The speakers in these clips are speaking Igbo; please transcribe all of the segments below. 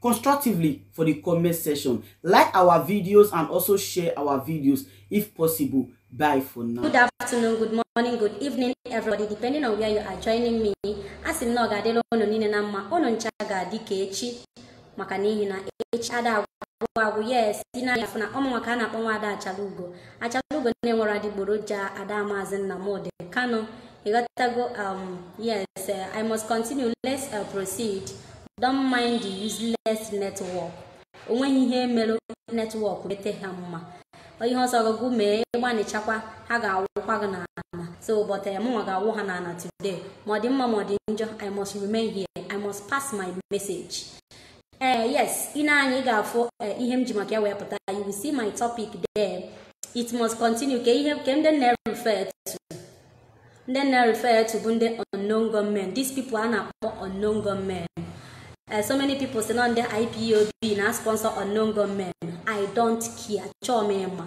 constructively for the comment section. Like our videos and also share our videos if possible. Bye for now. Good afternoon, good morning, good evening, everybody, depending on where you are joining me. Asị m na ọ ga-adịla unu niile na mma, unu ncha ga-adị ka echi maka n'ihi na echi ada agwụ agwụ yes, ị na-afụ na ọ mụnwa ka a na-akpọ nwa ada achala ugo. achalugo na-enwerọ adịgboroja ada maazị nnamdị kanu ị ghọtago um yes uh, i must continue let's uh, proceed don't mind the useless network onweghị ihe e mere network mete ha mma ihe ọ sọ gị gị mee ị gbanịchakwa ha ga-awụkwa gị n'ala so but eh, mụnwa ga-awụ ha n'ala today ma ọ dị mma ma ọ dị njọ i must remain here i must pass my message ee eh, yes ị nee anya ị ga-afụ eh, ihe m ji maka ya wee pụta you will see my topic there it must continue ka ihe nke ndị m na-refer to ndị m na-refer to bụ ndị unknown gunmen these people a na-akpọ unknown gunmen eh, so many people sị na ndị IPOB na-sponsor unknown gunmen I don't care achọọ m ịma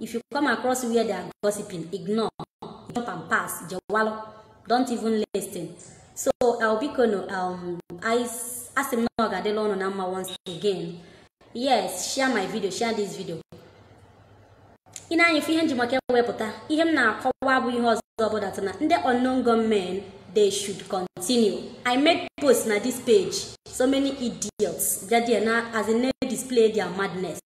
if you come across where they are gossiping ignore jump and pass jewalụ don't even listen so biko nụ um, asị m na ọ ga-adịla unu na mma once again yes share my video share this video ị nee anya ịfụ ihe m ji maka ya wee pụta ihe m na-akọwa bụ ihe ọzọ ọbụla tụ na ndị unknown gunmen they should continue i made post na this page so many idiots bịa there na as in na-display their madness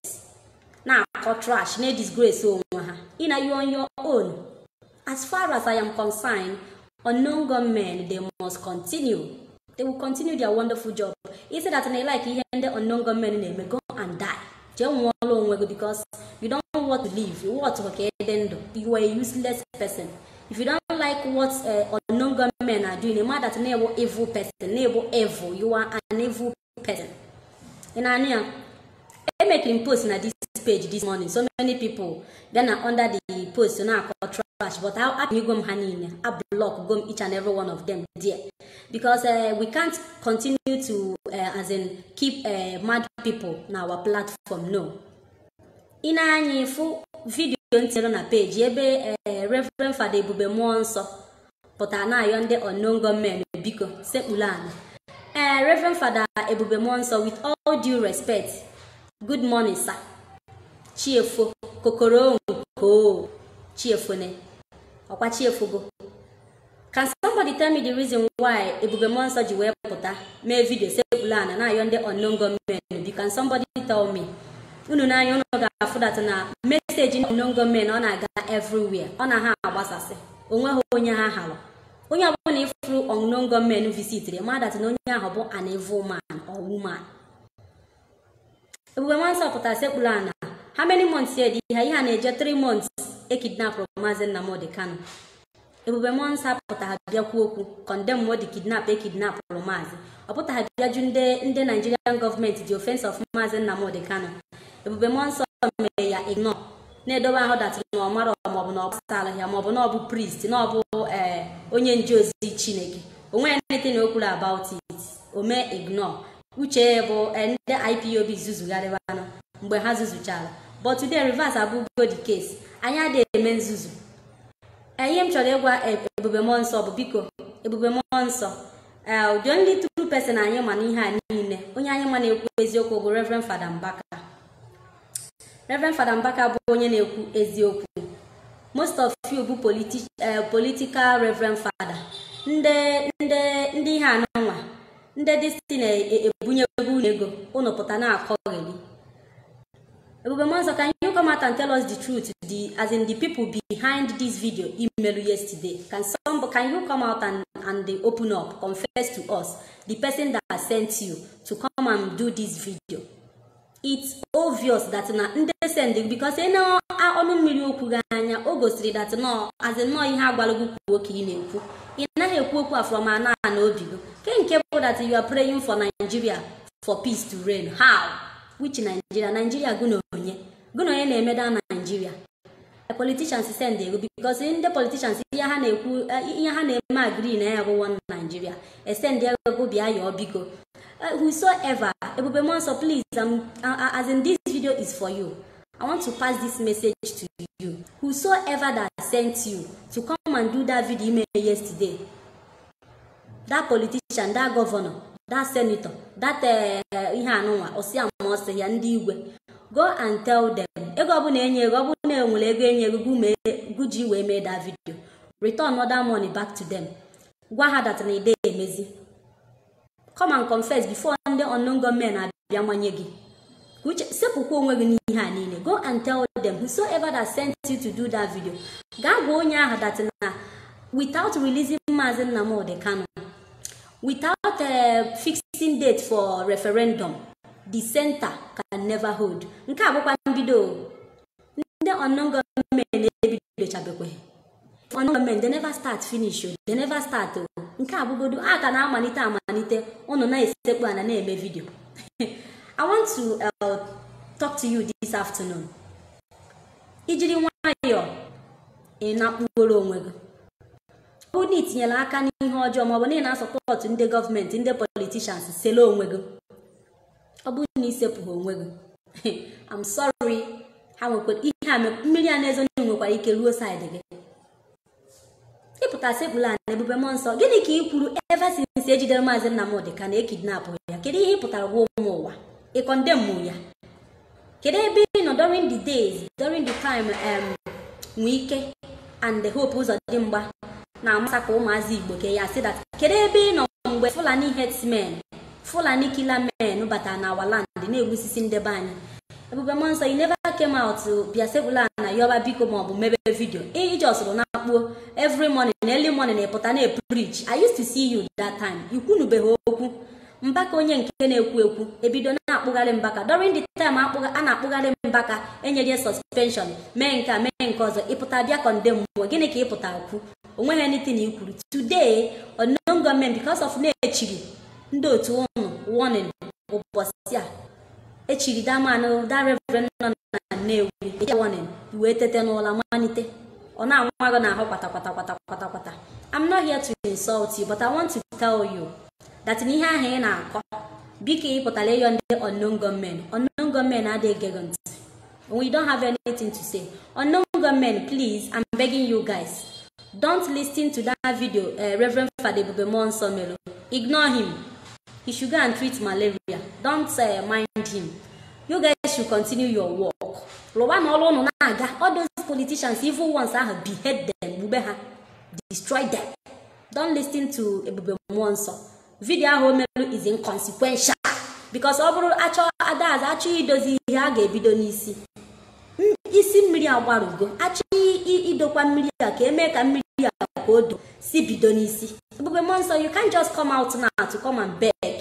na-akọ trash na-edisgrace onwe ha ị na you on your own as far as i am concerned unknown gunmen they must continue they will continue their wonderful job isi that na like ihe ndị unknown gunmen na-eme go and die jee nwụọla onwe gị because you don't know what to live you want ka ede ndụ you are a useless person if you don't like what uh, unknown gunmen are doing a man that na-ebu evil person na-ebu evil you are an evil person ị na-anụ ya emekiri m post na this page this morning so many people bịa na under the post na-akọ trash but a ban go m ha niile a block go m each and every one of them there because uh, we can't continue to uh, as in keep uh, mad people na our platform no ị nee anya ịfụ video m tinyere na page ebe uh, Reverend Father Ebube Mmụọ Nsọ pụtara na-ayọ ndị unknown gunmen biko sekpuru ala ee Reverend Father Ebube Mmụọ Nsọ with all due respect good morning sir chi efo kokoro nko chi efone ọkwa chi efogo can somebody tell me the reason why Ebube Mmụọ Nsọ ji wee pụta mee video sekpuru ala na-ayọ ndị unknown gunmen biko can somebody tell me unu nee anya unu ga-afụdatụ na message unknown gunmen ọ na-aga everywhere ọ na ha agbasasị onweghị onye ha halụ onye ọbụla ị fụrụ unknown gunmen visitiri madatụ na onye ahụ bụ an evil man or woman ebube mmụọ nsọ pụtara sekpuru ana how many months ya dị ihe ihe a na-eje 3 months e kidnapụrụ maazị nnamdị kanu ebube mmụọ nsọ apụtaghị bịa kwuo okwu condemn ụdị kidnap e kidnapụrụ maazị ọ pụtaghị bịa jụọ ndị ndị nigerian government the offence of maazị nnamdị kanu ebube mmụọ nsọ mere ya ignore na-edobe ahụ that na ọ mara maọbụ na ọ gbasara ya maọbụ na ọ bụ priest na ọ bụ ee onye nje ozi chineke onwe ya nete na o kwuru about it o mee ignore uche ya bụ eh, ndị ipob zuzugharịbanụ mgbe ha zuzuchara but today reverse abụgo the case anyị adịghị eme nzuzu Eh, ihe m chọrọ ịgwa eh, ebube mmụọ nsọ bụ biko ebube mmụọ nsọ eh, the only true person anyị ma n'ihe a niile onye anyị ma na-ekwu eziokwu bụ reverend fada mbaka Reverend Fada Mbaka bụ onye na-ekwu eziokwu most of you bụ eh, political Reverend Fada ndị ndị ndị ihe anụnwa ndị isi na-ebunye ego unu ego unu pụta na-akọgheli Ebube Mmụọ Nsọ, can you come out and tell us the truth? The as in the people behind this video i melu yesterday. Can some can you come out and, and they open up, confess to us the person that sent you to come and do this video? it's obvious that na ndị send because e nee ọnụ mmiri okwu gị anya o gosiri that na ọ as in na ọ ihe a gwara gị kwuo ka ị na-ekwu ị naghị ekwu okwu a from ana ana obi gị kee nke bụ that you are praying for Nigeria for peace to reign how which Nigeria Nigeria gụ na onye gụ na onye na-eme the Nigeria politicians send gụ because ndị politicians ihe ha na-ekwu ihe ha na-eme agree na ya bụ one Nigeria e send gụ bịa yọọ biko whosoever ebube mmụọ nsọ please I'm, as in this video is for you I want to pass this message to you whosoever that sent you to come and do that video i melu yesterday that politician that governor that senator that eh, ihe anụnwa ọsịa ma ọsị ya ndị igwe go and tell them ego ọbụla e nyere gị ọ bụrụ na e nwere ego e nyere gụ mee gụ ji wee mee that video return that money back to them gwa ha that na ị dị emezi come and confess before ndị unknown gunmen abịa manye gị uche sepụkwa onwe gị n'ihe a niile go and tell them whosoever that sent you to do that video gaa gwa onye ahụ that na without releasing Maazị Nnamdi Kanu without uh, fixing date for referendum the center can never hold nke a bụkwa mbido ndị unknown gunmen ebidochabekweghị unknown gunmen they never start finish o they never start o nke a bụgodu a ka na-amalite amalite ụnụ na-esekpu ana na-eme video I want to uh, talk to you this afternoon i jiri nwayọọ ị na-akpụgoro onwe gị ọ bụrụ na itinyere aka n'ihe ọjọọ maọbụ na ị na-asọpọtụ ndị gọọmenti ndị politicians sele onwe gị ọ bụrụ na isepụghị onwe gị I'm sorry ha nwekwara ihe a mmiri a na-ezo n'ihu nwekwara ike ruo side gị ị pụta sekpulu ana ebube mmụọ nsọ gịnị ka ị kwuru ever since e jidere maazị Nnamdi Kanu e kidnapụ ya kedu ihe ị pụtara gwa ụmụ ụwa ị condemn ya kedu ebe ị nọ during the days during the time um, Wike and the Hope Uzodinma na-amassacre ụmụazị igbo ke ya sị that kedu ebe ị nọ mgbe fulani herdsmen fulani killer men batara na our land na-egbusisi nde be anyị ebube mmụọ nsọ you never came out to bịa sekpulu ana yọba biko maọbụ mebe vidio ijọsụrụ na akpuo every morning early morning ịpụta na-epreach i used to see you that time i kwunubeghị okwu mbaka onye nke na-ekwu ekwu ebido na-akpụgharị mbaka during the time a na-akpụgharị mbaka enye ya suspension mee nke a mee nke ọzọ ịpụta bịa kọndemụọ gịnị ka ịpụta kwu onweghị anything i kwuru today unknown gunmen because of na-echiri ndị otu ụnụ warning ụbọchị a echiri damanụ da reverend nọ na nnewi eje warning wee tete n'ụla malite ọ na-anwa gị n'ahụ kwata kwata kwata kwata kwata I'm not here to insult you but I want to tell you that na ihe ahụ ị na-akọ biko ị pụtara ịyọ ndị unknown gunmen unknown gunmen adịghị ege gị ntị we don't have anything to say unknown gunmen please i'm begging you guys don't listen to that video uh, reverend fada ebube mmụọ nsọ mere ignore him he should go and treat malaria don't uh, mind him you guys should continue your work rụwanụ ọrụ ụnụ na-aga all those politicians evil ones ahụ behead them gbube ha destroy them don't listen to ebube mmụọ nsọ vidio ahụ o merụ is inconsequential because ọ bụrụ achọ adazi achọ idozi ihe a ga-ebido n'isi M- isi mmiri agbarụgo achọ i- i- idokwa mmiri a ka emee ka mmiri a ka o do si bido n'isi ebube mmụọ nsọ you can't just come out now to come and beg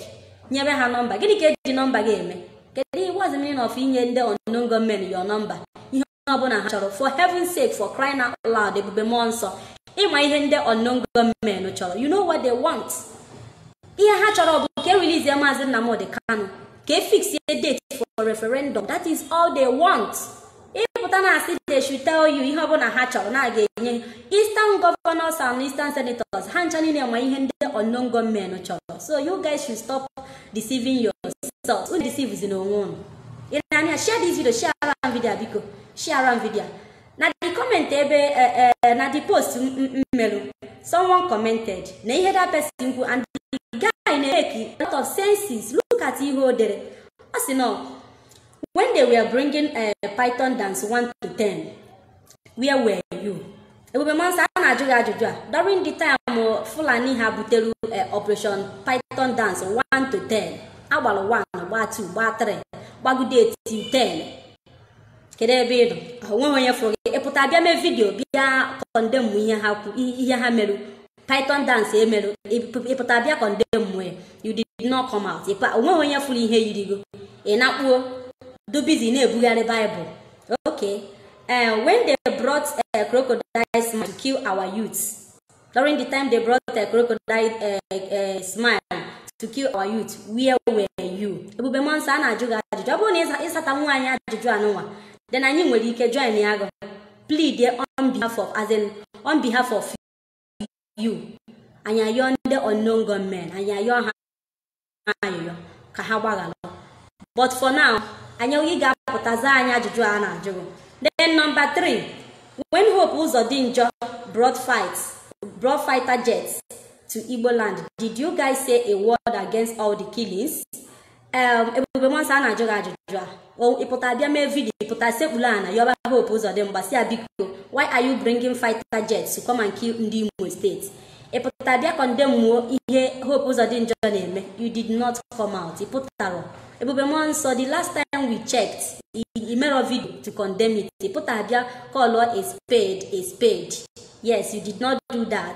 nyebe ha nọmba gịnị ka eji nọmba gị eme kedu ihe what's the meaning of inye ndị unknown gunmen your nọmba ihe ọbụla ha chọrọ for heaven sake for crying out loud ebube mmụọ nsọ ịma ihe ndị unknown gunmen chọrọ you know what they want ihe ha chọrọ bụ ka e releasie maazị Nnamdi Kanu ka e fix a date for referendum that is all they want ịpụta na asị they should tell you ihe ọbụla ha chọrọ na a ga-enye eastern governors and eastern senators ha ncha niile ma ihe ndị unknown gunmen chọrọ so you guys should stop deceiving yourself unu deceivezina onwe unu ị na-anụ ya share this video share around video a biko share around video a. na the comment ebe eh, eh, na the post m- m- m merụ someone commented na ihe that person kwu and the guy na-emake a lot of senses look at ihe o dere ọ sị na when they were bringing eh, python dance 1 to 10 where were you ebube mmụọ nsọ a na-ajụ gị ajụjụ a during the time fulani ha butere eh, operation python dance 1 to 10 a gbara 1 gbaa 2 gbaa 3 gbagide ya to 10 kedu ebe ị nọ onweghị onye fụrụ gị ịpụta bịa mee vidiyo bịa kọndemụ ihe ha kwu ihe ha merụ python dance emere ị pụta bịa kọndemụọ you did not come out onweghị onye fụrụ ihe yiri gị ị nakpuo dụ busy na-ebugharị baịbụl okay uh, when they brought uh, crocodile smile to kill our youths during the time they brought uh, crocodile uh, uh, smile to kill our youth where were you ebube mmụọ nsọ a na-ajụ gị ajụjụ ọ bụrụ na ị zatanwu anyị ajụjụ a nụnwa then anyị nwere ike joinia gị plead on behalf of as in on behalf of you anyị ayọọ ndị unknown gunmen anyị ayọọ ha ayịyọ ka ha gbaghara but for now anyị ị ga-apụta zaa anyị ajụjụ a na-ajụ gị then number three when hope ụzọ dị njọ brought fight brought fighter jets to igbo land did you guys say a word against all the killings em ebube mmụọ nsọ a na-ajụ gị ajụjụ a O- ị pụta bịa mee vidio ị pụta sekpulu ana yọba hope ụzọ dị mma sị ya biko why are you bringing fighter jets to come and kill ndị imo steeti ị pụta bịa kọndemụọ ihe hope ụzọ dị njọ na-eme you did not come out ị pụtarọ ebube mmụọ nsọ the last time we checked i- i mere vidio to condemn it ị pụta bịa kọlụọ a spade a spade yes you did not do that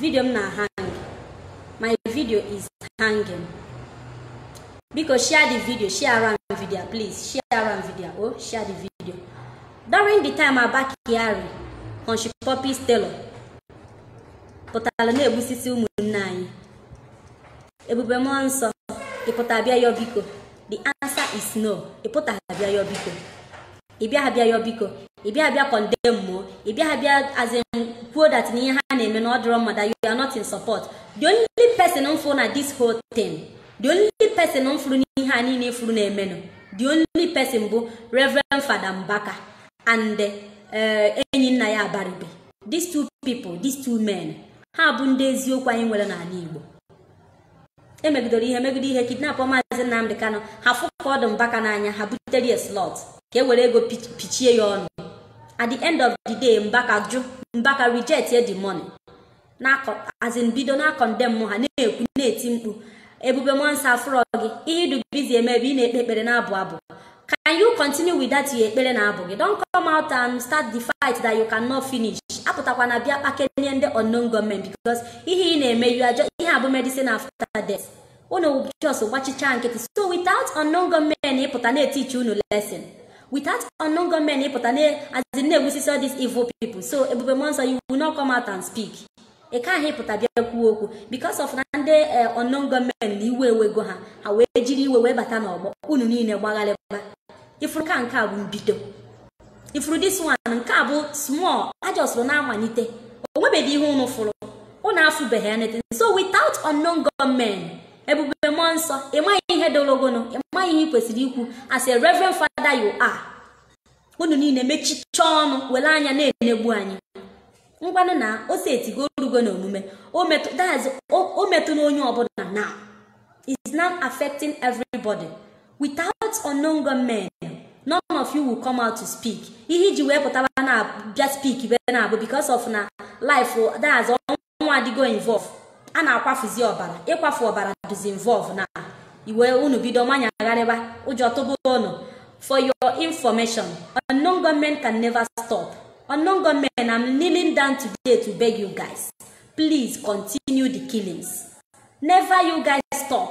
vidio m na hang my video is hanging biko share the video share our video please share our video oh share the video during the time Abba Kyari Hushpuppi's tailor pụtara na-egbusisi ụmụnne anyị ebube mmụọ nsọ ị pụta bịa yọ biko the answer is no ị pụta bịa yọ biko ị bịaghị bịa yọ biko ị bịaghị bịa kọndemụọ ị bịaghị bịa as in kwuo that na ihe ha na-eme na ọ dịrọ mma that you are not in support the only person m fụrụ na this whole thing the only person m fụrụ n'ihe a niile ị fụrụ na-emenụ the only person bụ reverend fada mbaka and eh, Enyinnaya abaribe these two people these two men ha bụ ndị eziokwu anyị nwere n'ala igbo emegidoro ihe megide ihe kidnapụọ maazị Nnamdị Kanụ ha fụ ka ọ dị Mbaka n'anya ha butere ya slọt ka e were ego pichie ya ọnụ at the end of the day Mbaka jụ Mbaka rejectie the money as in bido na-akọndemụ ha na-ekwu na-eti mkpu ebube mmụọ nsọ a fụrọ gị ihe ị dụ busy eme ebe ị na-ekpe ekpere na-abụ abụ can you continue with that your ekpere na abụ gị don't come out and start the fight that you cannot finish apụtakwa na bịa kpakenye ndị unknown gunmen because ihe ị na-eme you are just ihe a bụ medicine after death unu just gbachicha nkịtị so without unknown gunmen ịpụta na-etichi unu lesson without unknown gunmen ịpụta na-azi na-egbusisi all these evil people so ebube mmụọ nsọ you will not come out and speak ị ka ahụ ịpụta bịa kwuo okwu because of na ndị eh, unknown gunmen na iwe ewego ha ha wee jiri iwe wee bata n'ọgbọ unu niile gbagharịba ị fụrụ ka nke a bụ mbido ị fụrụ this one nke a bụ small a jọsụrụ na-amalite o nwebeghị ihe unu fụrụ unu afụbeghị anything so without unknown gunmen ebube mmụọ nsọ ịmaghị ihe dologono ịmaghị ihe ị kwesịrị ikwu as a reverend father you are unu niile mechicha ọnụ were anya na-enegbu anyị ngwanụ na o setigo o rugo n'omume o metụ that's o- o metụna onye ọbụla now is now affecting everybody without unknown gunmen none of you will come out to speak ihe i ji wee pụtaba na bịa speak be na-abụ because of na life that's ọnwụ adịgo involve a na-akwafuzi ọbara ịkwafu ọbara dịzi involve na iwe unu bido manyagharịba ụjọ tụba ụnụ for your information unknown gunmen can never stop unknown gunmen i'm kneeling down today to beg you guys please continue the killings never you guys stop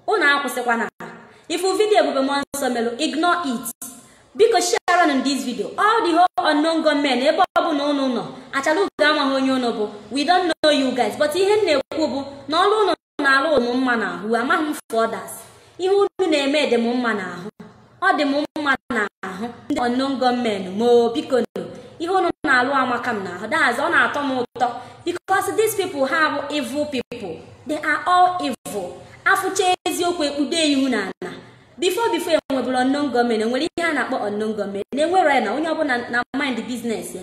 unu akwụsịkwana ị fụ vidio ebube mmụọ nsọ melụ ignore it biko share nụ this video all the whole unknown gunmen ebe ọbụla ụnụ nọ achalugo amaghị onye ụnụ bụ we don't know you guys but ihe m na-ekwu bụ na ọrụ ụnụ na-alụ dị m mma n'ahụ amaghị m for others ihe unu na-eme dị m mma n'ahụ ọ dị m mma n'ahụ ndị unknown gunmen m oo biko nụ ihe unu na-alụ amaka m n'ahụ dahazi ọ na-atọ m ụtọ because these people ha bụ evil people they are all evil a fụcha eziokwu e kpudo ihu n'ala before before e nwebụrụ unknown gunmen e nwere ihe a na-akpọ unknown gunmen na e nwere ya na onye ọbụla na-amind business ya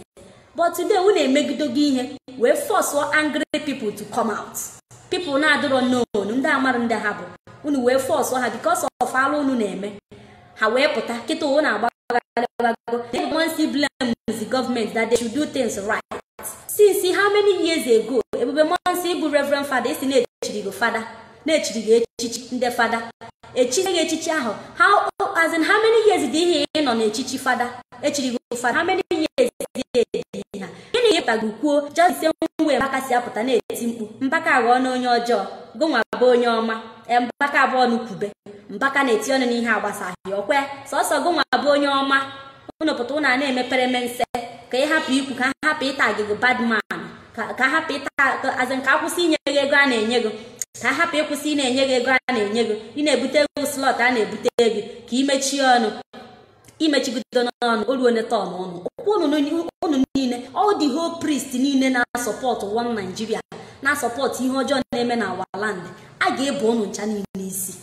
but today unu emegidogo ihe wee fọsụọ angry people to come out people na-adịrọ known ndị amarọ ndị ha bụ unu wee fọsụọ ha because of alụ unu na-eme ha wee pụta kịta ụwa na-agba agalabago they wan still blame the government that they should do things right since how many years ago ebube mmụọ nsọ ị bụ reverend fada e si na e chiri gị fada na e chiri gị echichi ndị fada e chichaa gị echichi ahụ how as in how many years dị ihe ị nọ n'echichi fada e chiri gị fada how many years dị ihe ha gịnị ka ịpụta gị kwuo just the same way mbaka si apụta na-eti mkpu mbaka aghọọna onye ọjọọ gị nwa bụ onye ọma ee, mbaka bụ ọnụ kwube mbaka na-eti ọnụ n'ihe agbasaghị ọkwa sọsọ gị nwa bụ onye ọma ụnụ pụta ụnụ a na-eme peremense ka ị hapụ ikwu ka ha hapụ ịtag gị badman ka ka ha hapụ ịta ka- as in ka akwụsị inye gị ego a na-enye gị ka ha hapụ ịkwụsị ịna-enye gị ego a na-enye gị ịna-ebute gị slọt a na-ebute gị ka ị mechie ọnụ imechibido n'ọnụ o ruo neta ọnụ ọnụ okwu unu ni- unu niile all the whole priest niile na-asupport one Nigeria na-asupport ihe ọjọọ na-eme na our land a ga-ebo unu ncha niile isi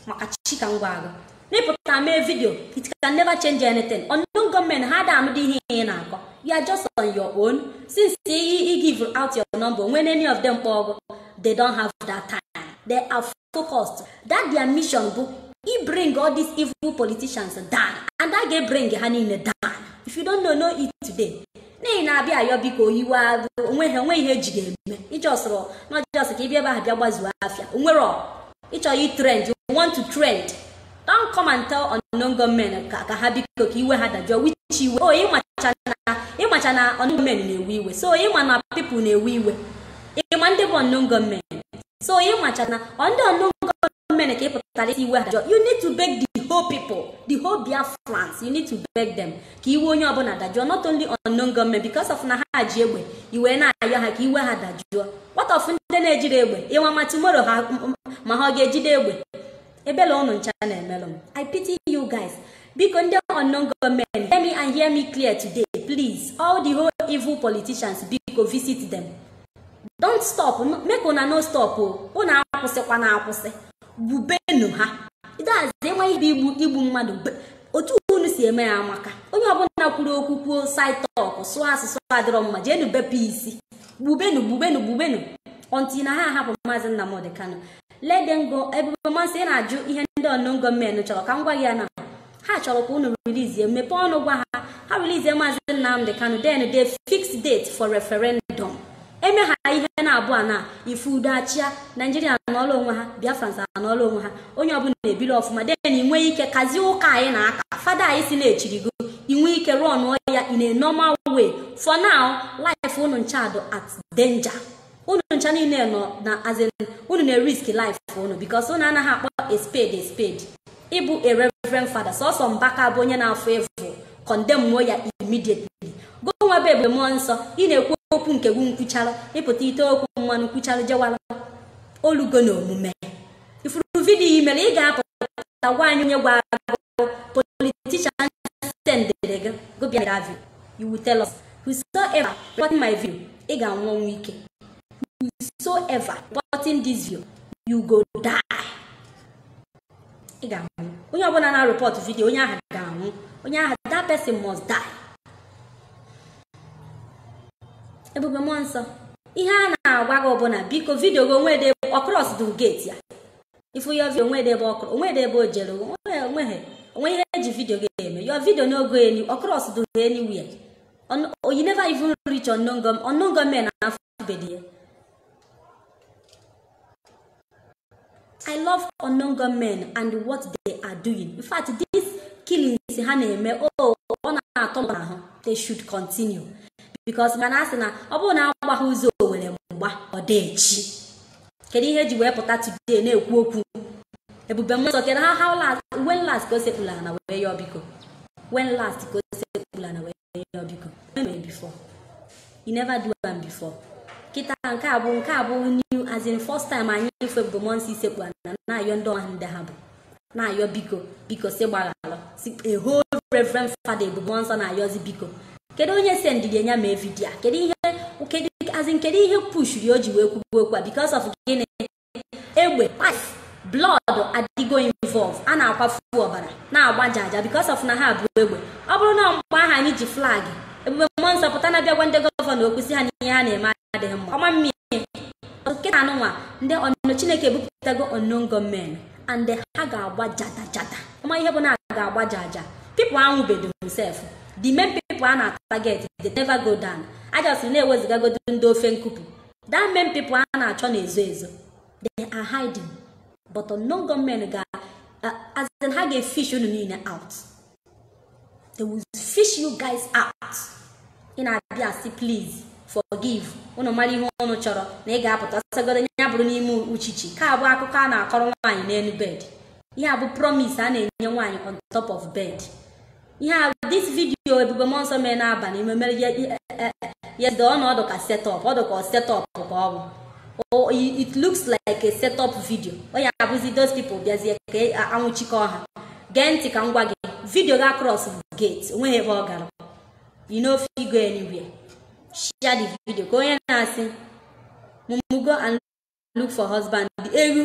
maka chi ka m gwa gụ na ịpụta mee vidio it can never change anything unknown gọọmenti ha ada anụdị ihe ị na-akọ you are just on your own since i i give out your number when any of them kpọọ gụ they don't have that time they are focused that their mission bụ i bring all these evil politicians down and a ga-ebring ha niile down if you don't know know it today na ị na-abịa ayọ biko oyiwe onwe ha onwe ihe eji ga-eme ịjọsụrụ na ọ just ka ịbịa ebe ahụ bịa gbazuo afịa onwe gị ị chọọ ị trend you want to trend don't come and tell unknown gọọmenti ka ha biko ka iwe ha dajụọ which iwe o oh, ịmacha na ịmacha na unknown gọọmenti na-ewe iwe so ịma na people na-ewe iwe ịma ndị bụ unknown gọọmenti so ị macha na ndị unknown gọọmenti ka ị pụtara ịsị iwe ha dajụọ you need to beg the whole people the whole biafrans you need to beg them ka iwe onye ọbụla dajụọ not only unknown gọọmenti because of na ha ji egbe ị wee na-ayọ ha ka iwe ha dajụọ what of ndị na-ejide egbe ị ma ma tomorrow ha ma ha ọ ga-ejide egbe ebele unu ncha na-emelụ m i pity you guys biko ndị unknown gọọmenti hear me and hear me clear today please all the whole evil politicians biko visit them don't stop make una no stop o unu akwụsịkwana akwụsị gbubenu ha ịdazi enwe ibe igbu igbu mmadụ otu unu si eme ya amaka onye ọbụla kwuru okwu kwuo side talk sụọ asụsụ adịrọ mma jeenu bepe isi gbubenu gbubenu gbubenu until na ha ahapụ maazị Nnamdi Kanu let them go ebube mmụọ nsọ ị na-ajụ ihe ndị unknown gọọmenti chọrọ ka m gwa gị ya na ha chọrọ ka unu rilizie mepee ọnụ gwa ha ha rilizie maazị Nnamdi Kanu then they fix date for referendum eme ha ihe naabọ a na ife udo achịa naijiria nọlụ onwe ha biafrans nọlụ onwe ha onye ọbụla na-ebili ọfụma then i nwee ike kazie ụka anyị na-aka fada anyị sị na e chiri gị i nwee ike rụọ ọlụ ya in a normal way for now life unu ncha dị at danger unu ncha niile nọ na as in unu na-erisk life unu because unu anaghị akpọ a spade a spade ị bụ a reverend fada sọsọ mbaka bụ onye na-afụ evil condemnuo ya immediately gụ nwa bụ ebube mmụọ nsọ ị na-ekwu okwu nke gụ nkwuchara ịpụta ite okwu mmanụ nkwuchara jewara o lugo na omume ị fụrụ vidiyo i mere ị ga-apụta gwa anyị onye gwa gụ politician sendiri gụ bịa that video you will tell us whosoever reporting my video ị ga-anwụ ọnwụ ike whosoever reporting this video you go die ị ga-anwụ onye ọbụla na-ereport video onye ahụ ga-anwụ onye ahụ that person must die ebube mmụọ nsọ ihe a na-agwa gị ọ bụ na biko vidio gị o nwedị ọ cross the gate ya ị fụ your video o nwedị ebe ọ kụrụ o nwedị ebe o jere o nweghị o nwe ihe e ji video gị eme your video no go even cross door anywhere e never even reach unknown gunmen unknown gunmen afụbedị ya I love unknown gunmen and what they are doing. In fact, these killings ha na-eme oh, ọ na-atọ m ahụ they should continue because mana a sị na ọ bụrụ na agbaghị ụzọ owere mgba ọ dị echi kedu ihe e ji wee pụta today na-ekwu okwu ebube mmụọ nsọ kedu ha how last when last ka o sekpulu ana wee yọọ biko when last ka o sekpulu ana wee yọọ biko o meburọ before e never do am before kịta nke a bụ nke a bụ new as in first time anyị ịfụ ebube mmụọ nsọ isekpu ana na-ayọ ndị ọha ndị ha bụ na-ayọ biko biko sị gbaghalụ sị a whole reverend father ebube mmụọ nsọ na-ayọzi biko kedu onye sendịrị enyi a mee video a kedu ihe kedu as in kedu ihe pushiri o ji wee kwuo okwu a because of gịnị egbe kpasi blood adịgo involve a na-akwafu ọbara na-agba jaja because of na ha bu egbe ọ bụrụ na mgbe ahụ anyị ji flag ebube mmụọ nsọ pụta na bịa gwa ndị gọvanọ okwu sị ha na ihe ha na-eme adịghị mma ọ ma-emeli kịta a nụnwa ndị ọnụ chineke ebupụtago unknown gunmen and ha ga-agba jata jata ị ma ihe bụ na a ga-agba jaja people anwụbedị sef the main people a na-atarget they never go down a just na-ewezugagodu ndị ofe nkupụ that main people a na-achọ na-ezo ezo they are hiding but unknown gunmen ga as in ha ga-efish unu niile out they will fish you guys out ị na-abịa asị please forgive unu mara ihe unu chọrọ na ị ga-apụta ọ sọgodu ya bụrụ n'ime uchichi nke a bụ akụkọ a na-akọrọ nwaanyị n'enu bed ihe a bụ promise a na-enye nwaanyị on top of bed ihe a this video ebube mmụọ nsọ mere n'abanị ime mere ya dị ọnọ ọ dụ ka set up ọ dụ ka set up ka ọ bụ or it looks like a set up video onye abụzi those people bịazie ka a nwụchikọọ ha gee ntị ka m gwa gị video gị acrossbeghị gate o nweghị ebe ọ gara e no fit go anywhere share the video ka onye na-asị mumu go and look for husband ewu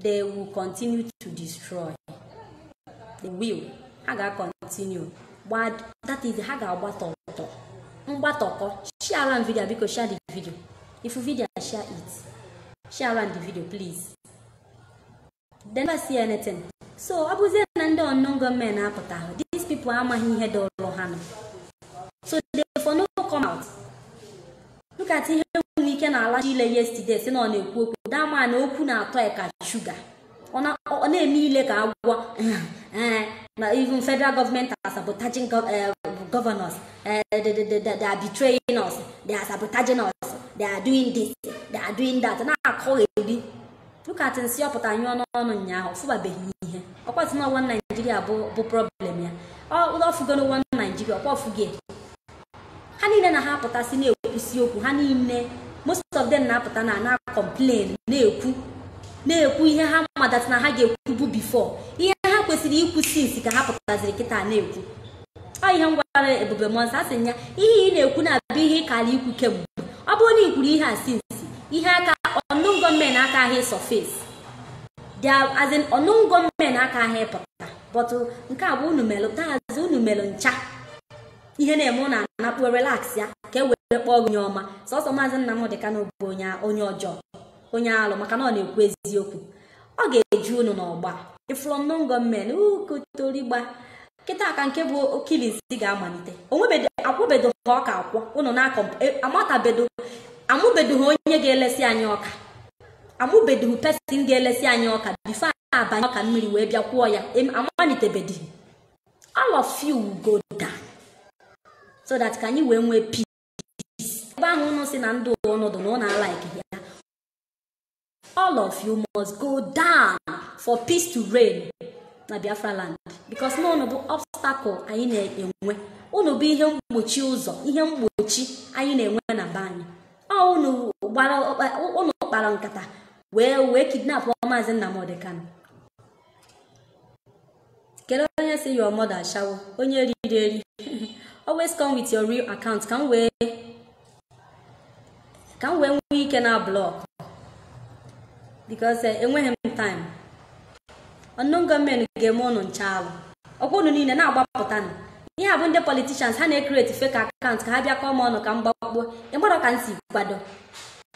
they will continue to destroy they will ha ga-continue that is ha ga-agbata ọtọ mgbatọkọ share around video biko share the video if you video share it share around the video please they never see anything so ọ bụzie na ndị unknown gunmen apụtaghị these people amaghị ihe dọrọ ha nọ so they for no come out look at ihe nwere ike na-alacha ile yesterday sị na ọ na-ekwu okwu dị mma na okwu na-atọ ya ka shuga ọ na- ọ na-eme ile ka agwọ eh, na even federal government are sabotaging gov- eh, governors eh, they, they, they, they they are betraying us they are sabotaging us they are doing this they are doing that na-akọgheri look at nsị ọ pụtara nyụọ n'ọnụ ụnyaahụ ọ fụbabeghị ihe ọkwazị nụ one Nigeria bụ bụ problem ya ọ fụgo nụ one Nigeria ọkwa ọ fụgo ha niile na ha apụtasị na-ekwusi okwu ha niile most of them na-apụta na na complain na-ekwu na-ekwu ihe ha madatị na ha ga-ekwubu before ihe ha kwesịrị ikwu since ka ha pụtaziri kịta na-ekwu ọ ihe m gwara ebube mmụọ nsọ asị ya ihe ị na-ekwu na ọ bụ ihe ị kara ikwu kemgbe ọ bụrụ na ị kwuru ihe a since ihe a unknown gunmen akaha ịsurface as in unknown gunmen akaha ịpụta but nke a bụ unu melụ taazị unu melụ ncha ihe na-eme ụnụ anakpuo relax ya ka e were kpọọ onye ọma sọsọ maazị Nnamdi Kanu bụ onye onye ọjọọ onye alụ maka na ọ na-ekwu eziokwu ọ ga-eju unu n'ọgba ị fụlụ unknown gunmen ukotorigba kịta ka nke bụ killings ga-amalite onwebedo akwụbedo ha ọka akwụ ụnụ na-akọ amatabedo amụbedo ha onye ga-elesi anyị ọka amụbedo ha person ga-elesi anyị ọka before abanye ọka mmiri wee bịa kwụọ ya em- amalitebedo all of you will go down so that ka anyị wee nwee peace ebe ahụ ụnụ si na ndụ ọnọdụ na ụnụ alaiki ya all of you must go down for peace to reign na Biafra land because na ụnụ bụ obstacle anyị na-enwe ụnụ bụ ihe mgbochi ụzọ ihe mgbochi anyị na-enwe na be anyị ụnụ kpara nkata wee wee kidnap maazị Nnamdi Kanu kedu onye si your mother ashawo onye riri eri always come with your real account ka m wee ka m wee nwee ike na block because eh, enweghị m time unknown gunmen ga-eme ụnụ ncha alụ ọkwa ụnụ niile na-agbapụta nụ ihe a bụ ndị politicians ha na-ecreate fake account ka ha bịa kọọ m ọnụ ka m gbakpuo ị madụ ka m si kwado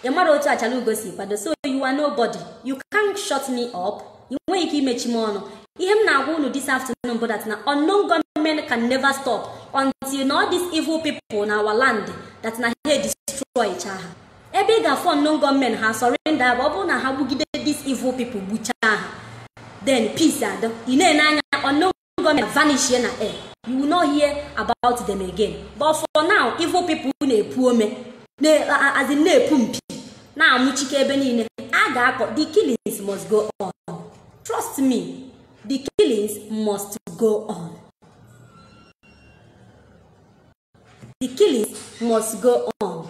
ị madụ otu Achalaugo si kwado so you are nobody you can't shut me up ị nweghị ike imechi m ọnụ ihe m na-agwa unu this afternoon bụ that na unknown gunmen can never stop until na all these evil people na our land that na ha edestroy cha ha ebe ị ga-afụ unknown gunmen ha surrender bụ ọ bụrụ na ha gbugide these evil people gbuchaa ha then peace adị ị na-ene anya unknown gunmen vanishie na air you will not hear about them again but for now evil people na-epu ome as in na-epu mpi na-amụchike ebe niile a ga-akọ the killings must go on trust me the killings must go on the killing must go on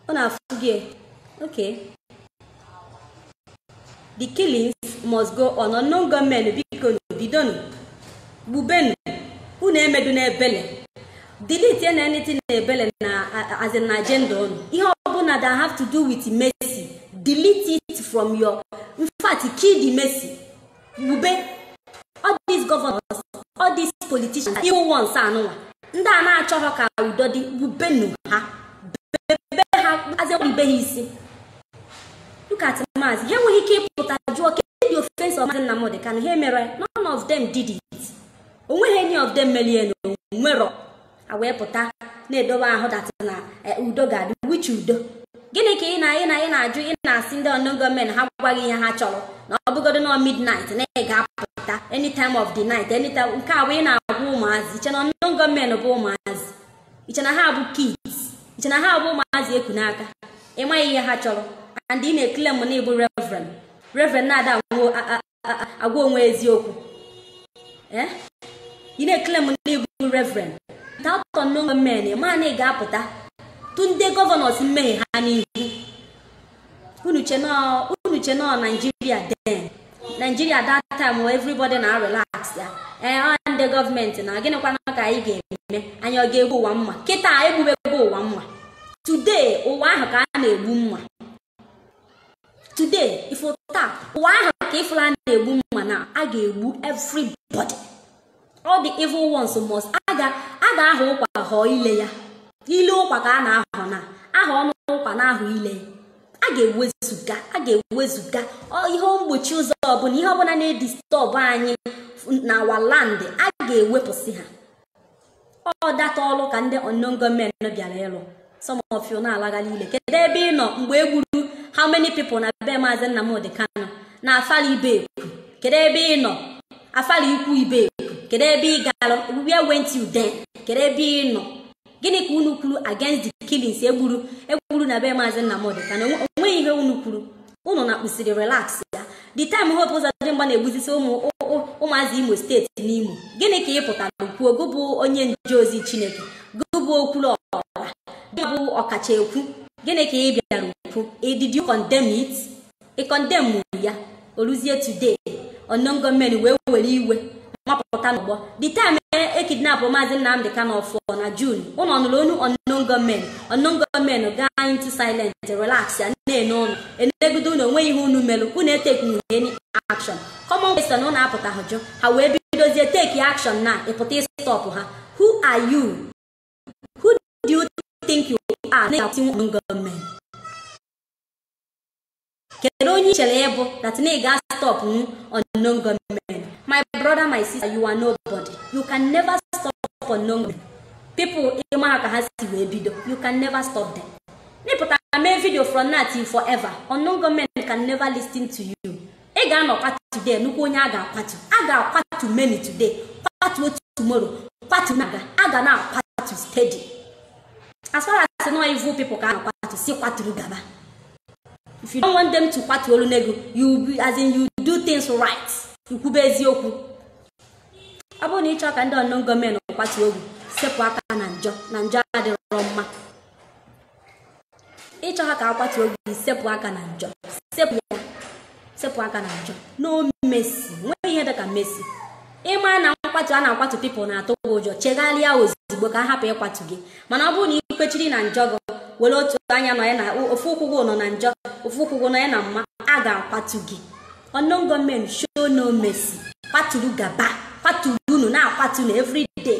ọ na-afụ gị okay the killings must go on unknown gunmen biko bidonu gbubenu unu emeduna ebele delete ya na anything na-ebele na as in agenda unu ihe ọbụla that have to do with mercy delete it from your in fact kill the mercy gbube all these governors all these politicians evil ones anụnwa ndị a na-achọghọ ka udo dị gbubenu ha bebe ha as in be ha isi look at maazị ha enweghị ike ịpụta jụọ kedụ offence of maazị Nnamdi Kanu ha emero none of them did it onweghị any of them melie na onwerọ a wee pụta na-edobe ahụ that na eh, udo ga-adị which udo gịnị ka ị na ị na ị na-ajụ ị na-asị ndị unknown gunmen ha gwa gị ihe ha chọrọ na ọ bụgodo na midnight na ị ga-apụta any time of the night any time nke a bụ ị na-agwa ụmụazị i che na unknown gunmen bụ ụmụazị i che na ha bụ kids i che na ha bụ ụmụazị e ku n'aka ị maghị ihe ha chọrọ and ị na-eclaim na ị bụ reverend reverend na-ada anwụ a- a- agwa onwe eziokwu eh? ị na-eclaim na ị bụ reverend without unknown men ma na ị ga-apụta tụọ ndị gọvanọs mmehie ha n'ihu unu che na ọ naijiria then naijiria that time where everybody na-arelax ya ee ọ ndị gọọmenti na gịnịkwana ka anyị ga-eme anyị ọ ga-egbu ụwa mma kịta e gbubego ụwa mma today ụwa ahụ ka a na-egbu mma today ị fụ taa ụwa ahụ ka ịfụla a na-egbu mma na a ga-egbu everybody all the evil ones must a ga-ahọ ụkwa họọ ile ya ile ụkwa ka a na-ahọ na-ahọ ọnụ ụkwa na-ahọ ile ya a ga-ewezuga a ga-ewezuga ihe mgbochi ụzọ ọbụla ihe ọbụla na-edistọbụ anyị na our land a ga-ewepụsị ha ọ that ọlụ ka ndị unknown gunmen bịara ịlụ some of you na-alagharị ile kedu ebe ị nọ mgbe e gburu how many people na be maazị Nnamdi Kanu na Afara Ibeku kedu ebe ị nọ Afara Ukwu Ibeku kedu ebe ị gara where were you then kedu ebe ị nọ gịnị ka unu kwuru against the killings e gburu egburu na be maazị Nnamdi Kanu onweghị ihe unu kwuru unu na-akpụsiri relax ya the time Hope Ụzọdịmma na-egbuzisi ụmụ ụmụazị imo steeti n'imo gịnị ka ị pụtara kwuo gị bụ onye nje ozi chineke gị bụ okwuru ọra gị bụ ọkacha ekwu gịnị ka ị bịara kwuo did you condemn it ị condemn ya o luzie today unknown gunmen wee were iwe mapụta n'ọgbọ the time e kidnapụ maazị Nnamdị Kanu ọfụ na Jun ụnụ ọ nụrụ ọnụ unknown gunmen unknown gunmen gaa into silent relaxịa na-ene ụnụ enegodo ụnụ onweghị ihe unu merụ unu etekighị any action common question ụnụ apụtaghị jụ ha wee bidozie take action na ịpụta ịstọpụ ha who are you who do you think you are na-eti unknown gunmen kedu onye i chere ị bụ that na ị ga-stopnwu unknown gunmen my brother my sister you are nobody you can never stop unknown gunmen people ị ma ha ka ha si wee bido you can never stop them na ị pụta mee video from now till forever unknown gunmen can never listen to you ị ga-anọkwa today nnukwu onye a ga-akwatu a ga-akwatu many today kwatuo tomorrow kwatu na-aga a ga na-akwatu steady as far as na ọ evil people ka a na-akwatu si kwaturu gaba if you don't want them to kwatu olu n'ego you be- as in you do things right i kwube eziokwu ọ bụrụ na ị chọọ ka ndị unknown gunmen kwatuo gị sepụ aka na njọ na njọ adịrọ mma ị chọha ka a kwatuo gị sepụ aka na njọ sepụ ya sepụ aka na njọ no mercy nwee ihe dị ka mercy ị ma na nkwatu a na-akwatu people na-atụ gị ụjọ chegharịa ozugbo ka a hapụ ịkwatu gị mana ọ bụrụ na ị kwechiri na njọ gị were otu anya nọ ya na ofu ụkwụ gị nọ na njọ ofu ụkwụ gị nọ ya na mma a ga-akwatu gị unknown gunmen show no mercy kwaturu gaba kwaturu unu na-akwatu na everyday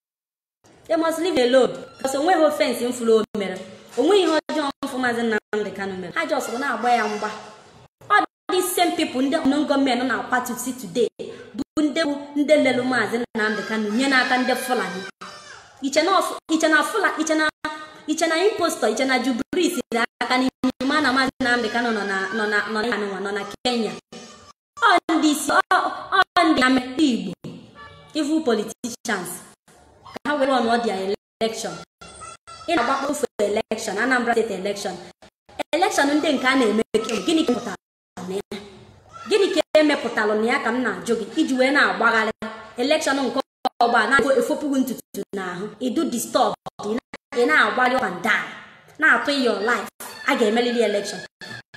they must leave him alone because onweghị offence m fụrụ o mere onweghị ihe ọjọọ m fụ maazị Nnamdị Kanu mere ha ji soro na-agba ya mgba ọ this same people ndị unknown gunmen na-akwatusi today bụ ndị bụ ndị lelụ maazị Nnamdị Kanu nye n'aka ndị Fulani i che na ọ Fu- i che na Fula i che na i che na impostor i che na Jubril aka n'ime ma na maazị Nnamdị Kanu nọ na nọ na nọ na nọ na Kenya ọ ndị isi ọ ọ ndị na-emekpa Igbo evil politicians ka ha were ọnụ ọdịa election ị na-agbakpọ ofe election Anambra state election election ndị nke a na-eme kemgbe gịnị ka pụtara na ya gịnị ka e mepụtara na ya ka m na-ajụ gị i ji wee na-agbagharị election nke ọgba na-efopụghị ntutu n'ahụ idu disturb ị na-agbali up and down na-atụ your life a ga-emerịrị election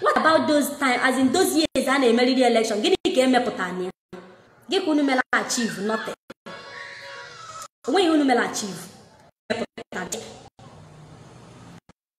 what about those time as in those years a na-emerịrị election gịnị ka e mepụtara na ya gịnị ka unu mere achieve nothing onweghị ihe unu mere achieve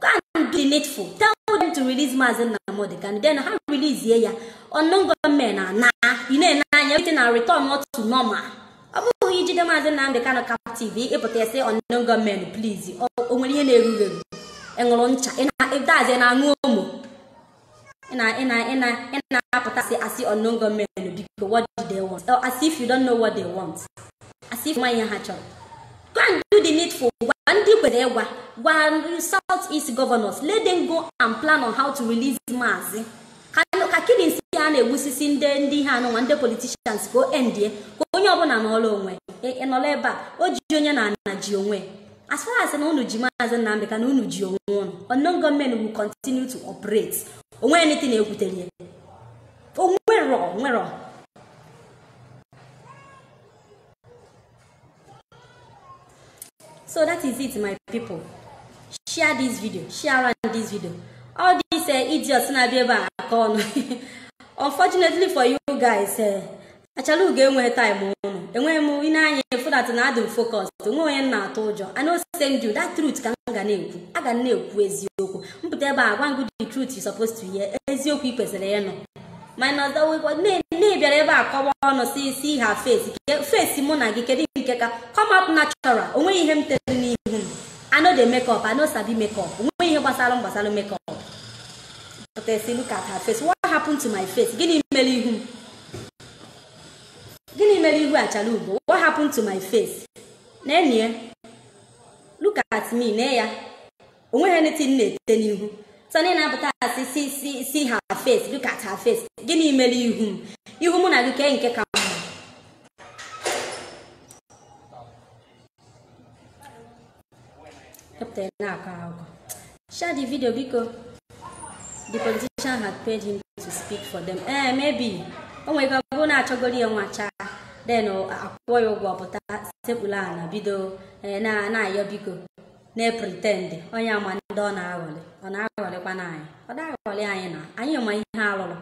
go and do the needful tell them to release maazị nnamdị kanu then ha release ya unknown gunmen anaa ị na-ene anya everything a returnuo to normal ọ bụghị i jide maazị nnamdị kanu captive ị pụta ịsị unknown gunmen please o o nwere ihe na-erughị eru ị ṅụrụ ncha ị na- that's ị na-aṅụ Omo na-apụta asị asị unknown gunmen biko what do they want or as if you don't know what they want as if nwa ihe ha chọrọ go and do the needful gwa ndị kwere ịgwa gwa south east governors let them go and plan on how to release maazị ka killings a na-egbusisi ndị ndị ihe a nụnwa ndị politicians ka o endie ka onye ọbụla nọra onwe ịnọla ebe a o ji onye n'ana ji onwe as far as na unu ji maazị Nnamdi Kanu unu ji onwe unu unknown gunmen will continue to operate onwe anything ekwutere ya onwerọ onwerọ so that is it my people share this video share around this video all these uh, idiots na-abịa ebe a akọ ọnụ unfortunately for you guys uh, Achalugo enweghị time unu enweghị m ine anya efu dat na adị m focus onweghị onye m na-atụ ụjọ I no send you that truth ka m ga na-ekwu aga m na-ekwu eziokwu mpụta ebe a gwa gị the truth you supposed to hear eziokwu ị kwesịrị ịnụ minus the way na-abịara ebe a kọwa ọnụ see see her face face mụ na gị kedu nke ka come up natural onweghị ihe m tere n'ihu m I no dey make up I no sabi make up onweghị ihe gbasara m gbasara make up pụta asị look at her face what happened to my face gịnị mere ihu m gịnị mere ihu Achalugo what happened to my face na-enye look at me na ya onweghị anything m na-ete n'ihu so unu na-apụta asị see see see her face look at her face gịnị mere ihu m ihu mụ na gị kee nke ka mma Ka pụta ị na-akọ akụkọ. Share the video biko. The politician had paid him to speak for them. Eh, maybe. O nwere ike ọ bụrụ na achọgoro ya nwa chaa. Then ọ- akwụọ ya ụgwọ pụta sekpuru ala bido eh, na na-ayọ biko na-epretend onye ama ndị ọ na-aghọlị ọ na-aghọlịkwa na anyị ọ na-aghọlị anyị na anyị ma ihe a lụrụ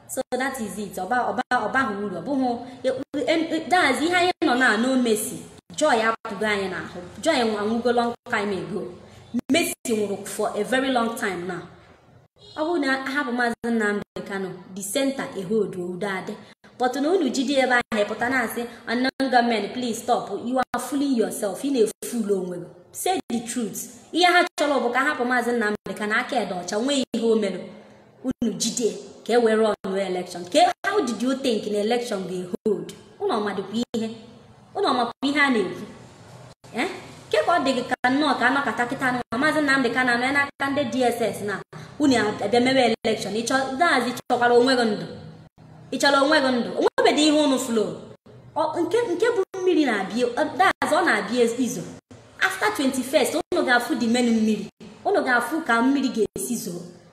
so that is it ọba ọba ọbaghị uru ọ bụghị daz ihe anyị nọ na no mercy joy apụgo anyị n'ahụ joy anwụgo long time ago mercy nwụrụ for a very long time now ọ bụrụ na ahapụ maazị Nnamdi Kanu the center ehold udo adị but na unu jide ebe ahụ ịpụta na-asị unknown gunmen please stop you are fooling yourself ị na-efool onwe gị say the truth ihe ha chọrọ bụ ka ahapụ maazị Nnamdi Kanu aka ya dị ọcha onweghị ihe o mere unu jide ka e were ọnụ election ka how did you think na election ga-ehold unu amadịkwa ihe unu amakwa ihe a na-ekwu ee ke ka ọ dị gị ka nnọọ ka anọkọta kịta nwa maazị Nnamdi Kanu mee n'aka ndị DSS na unu abịa mewe election ịchọdazi chọkwara onwe gị ndụ ị chọrọ onwe gị ndụ onwebedị ihe unu fụlụ nke nke bụ mmiri na-abịa that's ọ na-abịa izo after 21st unu ga-afụ the main mmiri unu ga-afụ ka mmiri ga-esi zoo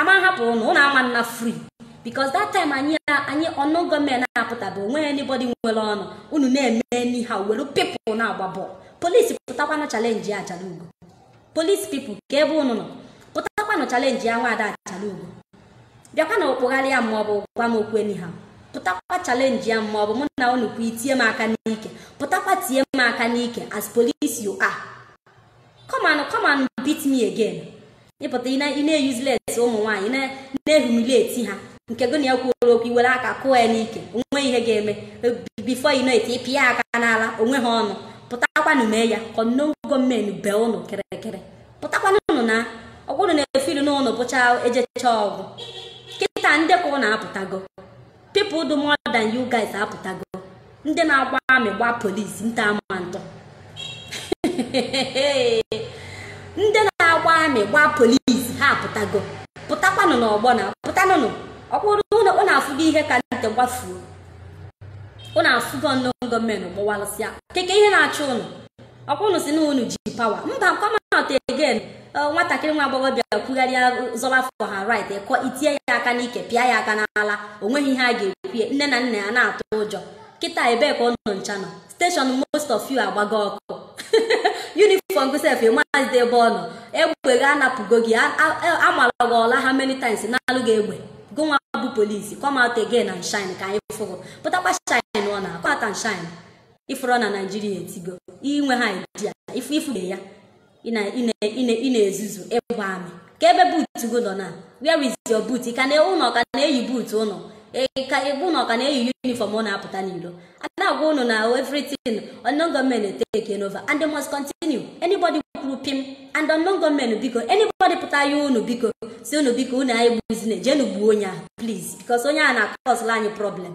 ama hapụ ụnụ ụnụ ama nna free because that time anyị anyị unknown gunmen apụtabe onwe anybody nwere ọnụ unu na-eme anyhow were pipụl na-agba bọọlụ polisi pụtakwanụ chalenji achalugo polisi pipụl kee ebe ụnụ nọ pụtakwanụ chalenjia nwaada achalugo bịakwanụ kpagharịa m maọbụ gwa m okwu anyhow pụtakwa chalenjia m maọbụ mụ na unu kwa itie m aka n'ike pụtakwa tie m aka n'ike as police you are come and come and beat me again ịpụta ị na- ị na-eyuzles ụmụ nwaanyị na- na-ehumilieti ha nke gị na ya kwuoro okwu iwere aka kụọ ya n'ike onwe ihe ga-eme before you know it ịpịa ya aka n'ala onwe ha ụnụ pụtakwanụ mee ya ka unknown gunmen bee ụnụ kịrịkịrị pụtakwanụnụ na ọkwa ụnụ na-efilu na ụnụ bụcha ejecha ọ gwụ kịta ndị ka ụnụ apụtago people dụ more than you guys apụtago ndị na-agba amị gba polisi nta ama ntọ ndị na-agba amị gba polisi ha apụtago pụtakwanụ n'ọgbọ na pụtanụnụ ọkwa ụnụ afụgo ihe ka nte gbafuo ụnụ afụgo unknown gunmen gbawasịa ke kee ihe na-achụ ụnụ ọkwa unu si na unu ji pawa mba come out again Eh, nwatakịrị nwa agbọghọbịa kwugharịa zọba for her right ịkọ itinye ya aka n'ike pịa ya aka n'ala o nweghị ihe a ga-ekwu nne na nna ya na-atụ ụjọ kịta ebee ka ụnụ ncha nọ steshọn most of you agbago ọkụ uniform gị sef ịmazide ebe ọ nọ egbe gị anapụgo gị a- a- a- amara gị ụla how many times nalụ gị egbe gụnwa bụ polisi come out again and shine ka anyị fụ gị pụtakwa shine ọ na come out and shine ifụrụ na naijiria etigo inwe ha idea ifu ifu ya ị na- ị na- ị na- ị na-ezuzu ịbụ amị kee ebe buutu gị nọ na where is your boot ị ka na ụnụ ka na-eyi buutu ụnụ Ị ka ịbụ ụnụ ka na-eyi yunifọm ụnụ apụta n'ilo a na-agwa ụnụ na everything unknown gunmen take it over and they must continue anybody kwuru pim and unknown gunmen biko anybody pụta yọọ ụnụ biko si ụnụ biko ụnụ egbuzina jenu gbuo onye ahụ please because onye ahụ na-akọsụla anyị problem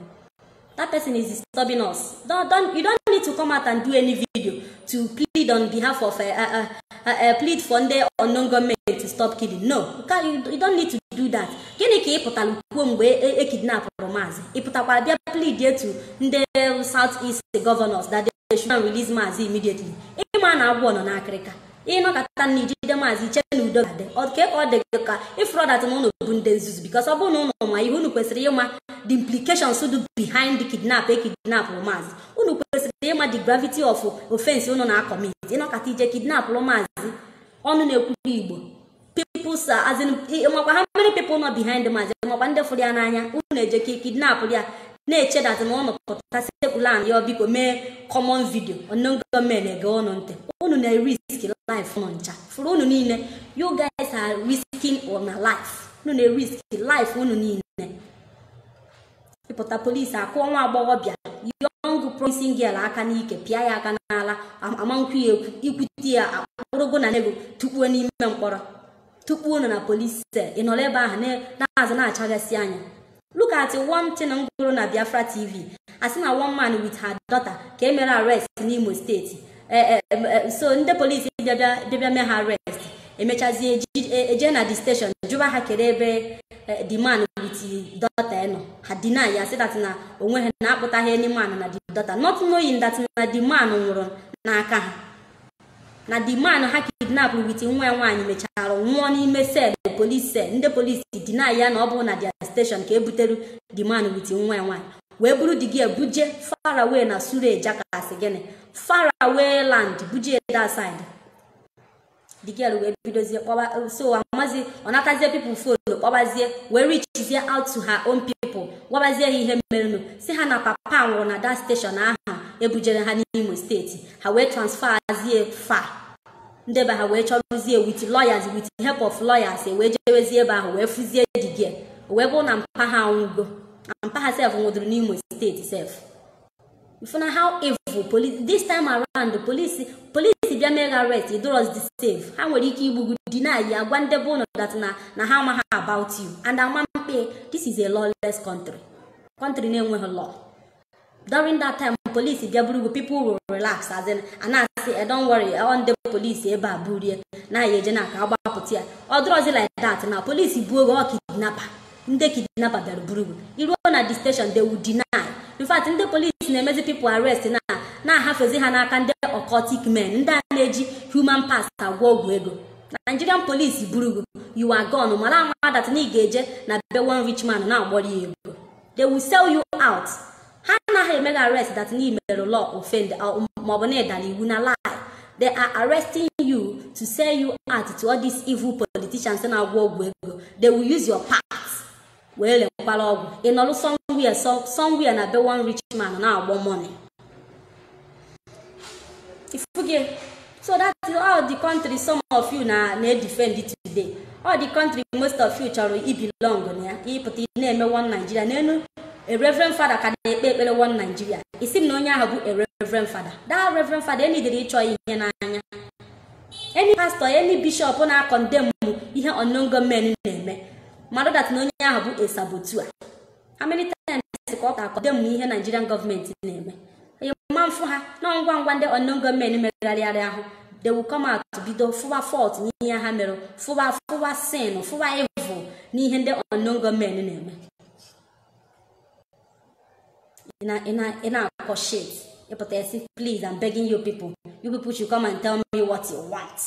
that person is disturbing us don't, don't, you don't need to come out and do any video to plead on behalf of uh, uh, uh, uh, plead for ndị unknown gunmen to stop killing no you, can, you, you don't need to do that gịnị ka ị pụtara kwuo mgbe e kidnapụrụ maazị ị pụtakwara bịa plead to ndị south east governors that they they should go and release maazị immediately ịma na agwọ nọ n'akịrịka ịnọkata na ijide maazị iche na udo ga-adị ọ ka ka ọ dị gị ka if not that na ụnụ bụ ndị nzuzu bikos ọ bụrụ na ụnụ ma ihe ụnụ kwesịrị ịma the implications dụ behind the kidnap e kidnapụrụ maazị ụnụ kwesịrị ịma the gravity of offense ụnụ na-akọmit ịnọkata ije kidnapụrụ maazị ọnụ na-ekwuru igbo people sa as in makwa how many people nọ behind mazi makwa ndị fụrụ ya n'anya unu eje ka kidnap ya na-eche dat na ụnụ pụta sepụla and ya biko mee common video unknown gunmen ege ụnụ ntị unu na-erisk life unu ncha fụrụ unu niile you guys are risking una life unu na-erisk life unu niile ịpụta polisi akụọ nwa agbọghọbịa young promising girl aka n'ike pịa ya aka n'ala amankwụ ya ekwu ikwute ya akpụrụ gị na nego tukpuo n'ime mkpọrọ tukpuo nọ na polisi sel ị nọrọ ebe ahụ n'azụ na-achaghasị anya look at one thing m gụrụ na biafra tv asị na one man with her daughter ka e mere arrest n'imo steeti so ndị polisi bịa bịa mee ha arrest emechazie eje na the station jụba ha kere ebe the man with daughter nọ ha deny ya sị that na onweghị na akpụtaghị any man na the daughter not knowing that na the man nwụrụ n'aka ha na the man ha kidnap with nwa ya nwaanyị mechara nwụọ n'ime sel polis sel ndị polisi deny ya na ọ bụghị na their station ka ebutere the man with nwa ya nwaanyị wee buru the girl ebuje faraway na suleja ka a sị gịnị faraway land buje that side the girl wee bidozie kpọba so amazi ọ natazie people phone kpọbazie wee richizie out to her own people gwabazie ha ihe merenụ sị ha na papa nwụrụ na dat steshọn ahụ ebujere ha n'imo steeti ha wee transferazie fa ndị be ha wee chọrụzie with lawyers with help of lawyers wee jewezie ebe ahụ wee fụzie the girl wee bụrụ na mpa ha nwụgo mpa ha sef nwụdụrụ n'imo steeti sef ị fụna how evil police this time around the police police bịa mee gị arrest ị dịrọzi safe ha nwere ike igbu gị deny ya gwa ndị be unu dat na na ha amaghị about you and ama mkpe this is a lawless country country na-enweghị law during that time polisi bịa buru gị people will relax as in a na-asị eh don't worry ọ ndị polisi ebe a burie na ya eje na ka a gbapụta ya ọ dịrọzi like that na polisi buo gị ọ kidnapa ndị kidnapa bịara buru gị iruo na the station they will deny in fact ndị polisi na-emezi people arrest na-ahafezi ha n'aka ndị occultic men ndị a na-eji human parts agwọ ọgwụ ego nigerian police buru gị you are gone mara ama dat na ị ga-eje na be one rich man na-agbọrọ ya ego they will sell you out ha anaghị eme gị arrest that na i merụ law offend uh, maọbụ na ị dara iwu na lie they are arresting you to sell you out to all these evil politicians na-agwọ ọgwụ ego they will use your part wee lekwara ọgwụ ị nọrụ somewhere somewhere na be one rich man na-agbọ money ị fụgo so that is all the country some of you na-edefend today all the country most of you chọrọ ibilong na ya ịpụta ị na-eme one nigeria n'elu a reverend father ka na-ekpe ekpere one nigeria ị sị na onye ahụ bụ a reverend father that reverend father enidere ịchọ ihe n'anya any pastor any bishop na-akọndem ihe unknown gunmen na-eme mara that na onye ahụ bụ a saboteur how many times ka ọ ga-akọndem ihe Nigerian gọọmenti na-eme ma mfụ ha na ngwa ngwa ndị unknown gunmen megharịarị ahụ they will come out bido fụwa fault n'ihe ha mere fụwa fụwa sin fụwa evil n'ihe ndị unknown gunmen na-eme ị na- ị na- ị na-akọ shit ị pụta ị sị please I'm begging you people you people should come and tell me what you want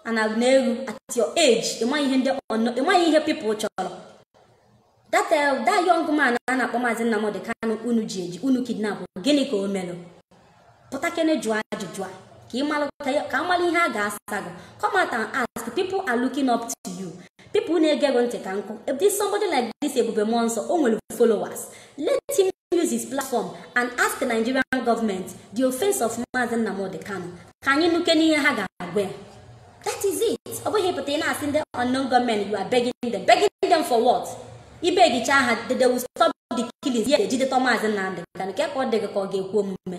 and I na-eru at your age ị maghị ihe ndị unknown- ị maghị ihe people chọrọ that uh, that young man a na-akpọ maazị Nnamdi Kanu unu ji eji unu kidnap gịnị ka o melụ pụtakene jụọ ajụjụ a ka ị malụ ka ya- ka a mara ihe a ga-asa gị come out and ask people are looking up to you people na-ege gị ntị ka nkụ if this somebody like this Ebube Mmụọ Nsọ o nwere followers let him use his platform and ask the Nigerian government the offense of Maazị Nnamdi Kanu ka anyị nụkene ihe ha ga-agwa ya that is it ọ bụghị ịpụta ị na-asị ndị unknown gunmen you are begging them begging them for what ị begicha ha they will stop the killings ya ejidetọ Maazị Nnamdi Kanu ka ọ dị gị ka ọ ga-ekwe omume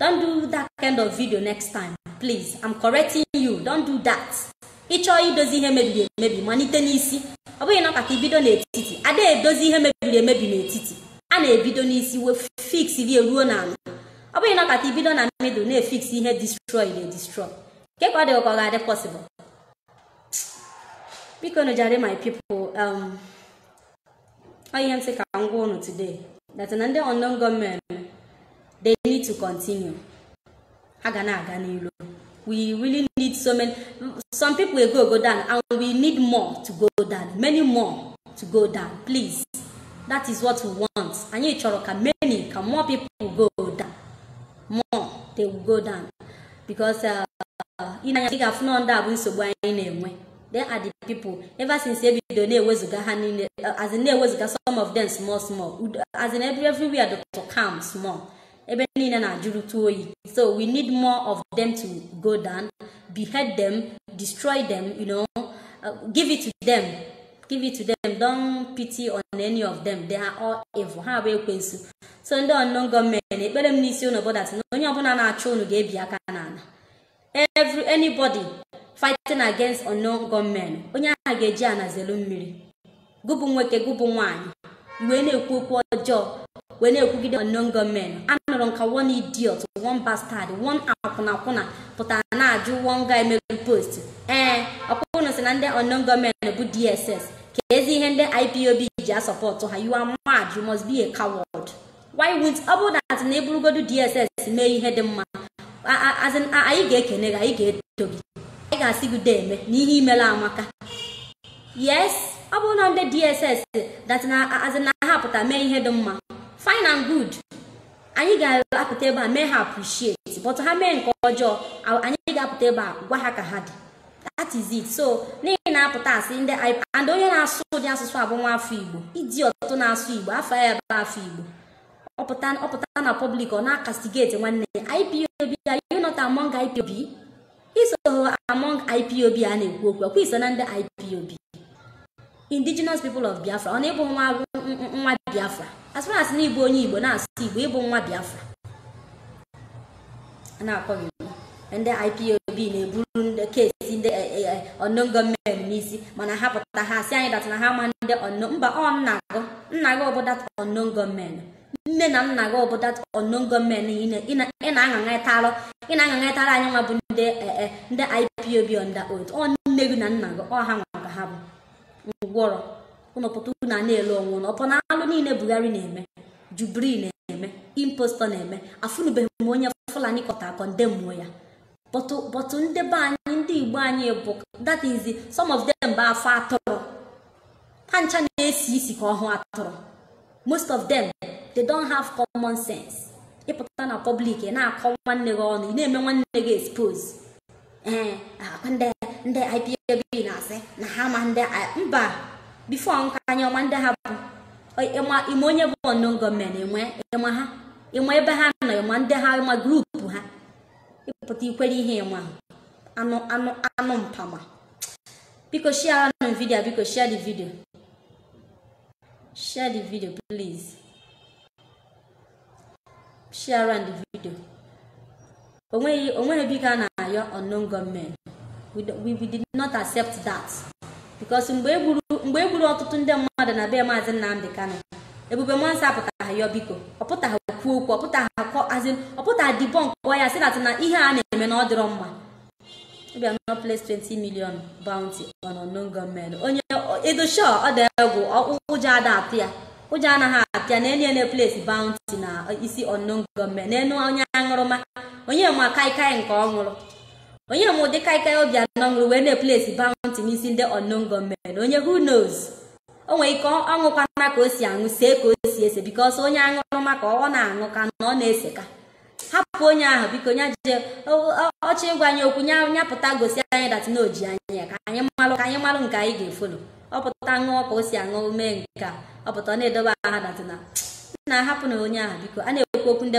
don't do that kind of video next time please i'm correcting you don't do that ị chọọ idozi ihe mebiri emebi malite n'isi ọ bụghị ị nọkata i bido n'etiti a da-edozi ihe mebiri emebi n'etiti a na-ebido n'isi wee fixrie ruo n'ala ọ bụghị ị nọkata i bido na middle na-efix ihe destroy edestroy kee ka ọ dị gị ka ọ ga-adị possible bikonụ jare my people um, ọ ihe m sị ka m gwa unu today that na ndị unknown gunmen they need to continue ha ga na-aga n'ilu we really need so many some people will go go down and we need more to go down many more to go down please that is what we want anyị chọrọ ka many ka more people go down more they will go down because uh, i nee anya ị ga-afụ na ndị a bụ nsogbu anyị na-enwe they are the people ever since e bido na-ewezuga ha niile as in na-ewezuga some of them small small Udo- as in every everywhere dịtụ calm small ebe niile na-ajụrụtụ oyi so we need more of them to go down behead them destroy them you know uh, give it to them give it to them don't pity on any of them they are all evil ha bụ ekwensu so ndị unknown gunmen ekpere m n'isi ụnụ bụ that na onye ọbụla na-achụ ụnụ ga-ebi aka n'ala every anybody fighting against unknown gunmen onye ahụ ga-eji ana zelu mmiri gụ bụ nwoke gụ bụ nwaanyị wee na-ekwu okwu ọjọọ wee na-ekwugide unknown gunmen anụrụ nka one idiot one bastard one akwụnakwụna pụtara na-ajụ one guy mere post ee ọkpụkpụnụ si na ndị unknown gunmen bụ dss keezi ihe ndị ipob ji asupport ha you are mad you must be a coward why won't ọ bụrụ that na ị bụrụgodu dss mee ihe dị mma a- a- as in, a- anyị ga-ekene gị anyị ga-eto gị anyị ga-asị gị deeme na ihe i mela amaka yes ọ bụrụ na ndị dss that na as in, na ha pụta mee ihe dị mma fine and good anyị ga-apụta ebe a mee ha appreciate but ha mee nke ọjọọ a- anyị ga-apụta ebe a gwa ha ka ha dị that is it so n'ihi na-apụta asị ndị I- and onye na-asụ ụdị asụsụ a bụ nwa afọ igbo iji ọtụtụ na-asụ igbo afọ ya ebe afọ igbo ọ pụta ọ pụta na public ọ na-acastigate nwanne ya ipob are you not among ipob i so among ipob a na-ekwu okwu ọkwa i so na ndị ipob indigenous people of biafra ọ na ị bụ nwa nwa biafra as far as na ị bụ onye igbo na-asụ igbo ị bụ nwa biafra a na-akpọ gị igbo. ndị ipob na-eburu ndị case ndị unknown gunmen n'isi mana ha pụta ha si anyị that na ha ma ndị unknown mba ọ nna gụ nna gị bụ that unknown gunmen nne na nna gị bụ that unknown gunmen niile ị na- ị na-atara ị na-atara anyị nwa bụ ndị eh, eh, ndị ipob onda old ọ nne gị na nna gị ọ ha nwa ka ha bụ ngwọrọ ụnụ pụta unu a na-ele onwe ụnụ upon alụ niile buhari na-eme jubril na-eme impostor na-eme afụnụbeghị m onye fulani pụta condemnụọ ya but but ndị be anyị ndị igbo anyị bụ that is the- some of them bụ afọ atụrụ ha ncha na-esi isi ka ọhụ atụrụ most of them they don't have common sense ị pụta na public ị na-akọ nwanne gị ọnụ ị na-eme nwanne gị expose ee ọkwa ndị ndị IPOB na-asị na ha ma ndị I- mba before nka anyị ama ndị ha bụ Ọ- ị ma ị ma onye bụ unknown gunmen enwe ị ma ha ị ma ebe ha nọ ị ma ndị ha ị ma group ha ị pụta ikwere ihe ị ma anụ anụ anụ mpama biko sharenụ video biko share the video share the video please share around the video o nweghị o nweghị biko a na-ayọ unknown gunmen we, do- we, we did not accept that because mgbe e gburu mgbe e gburu ọtụtụ ndị mmadụ na be maazị Nnamdi Kanu ebube muonso apụtaghị yọọ biko ọ pụtaghị kwuo okwu ọ pụtaghị akọ as in ọ pụtaghị debunkụọ ya sị na na ihe a na-eme na ọ dịrọ mma Obiano place 20 million bounty on unknown gunmen onye edosho ọ dị egwu ọ- ụjọ ada atụ ya ụjọ anaghị atụ ya na onye na place bounty na isi unknown gunmen n'enu onye aṅụrụma onye ma kaikai nke ọ ṅụrụ onye ma ụdị kaikai Obiano ṅụrụ wee na-eplesi bounty n'isi ndị unknown gunmen onye who knows o nwere ike ọ ṅụkwana ka o si aṅụ see ka o si ese bikos onye aṅụrụma ka ọ na-aṅụ ka na ọ na-ese ka hapụ onye ahụ biko nya jije ọchị ịgwa anyị okwu nya nya pụta gosi anyị dat na o ji anya ya ka anyị malụ ka anyị malụ nke anyị ga-efolo ọ pụta ṅụọ ka o si aṅụ mee nke a ọ pụta ọ na-edobe aha dat na na-ahapụ na onye ahụ biko a na-ekwu okwu ndị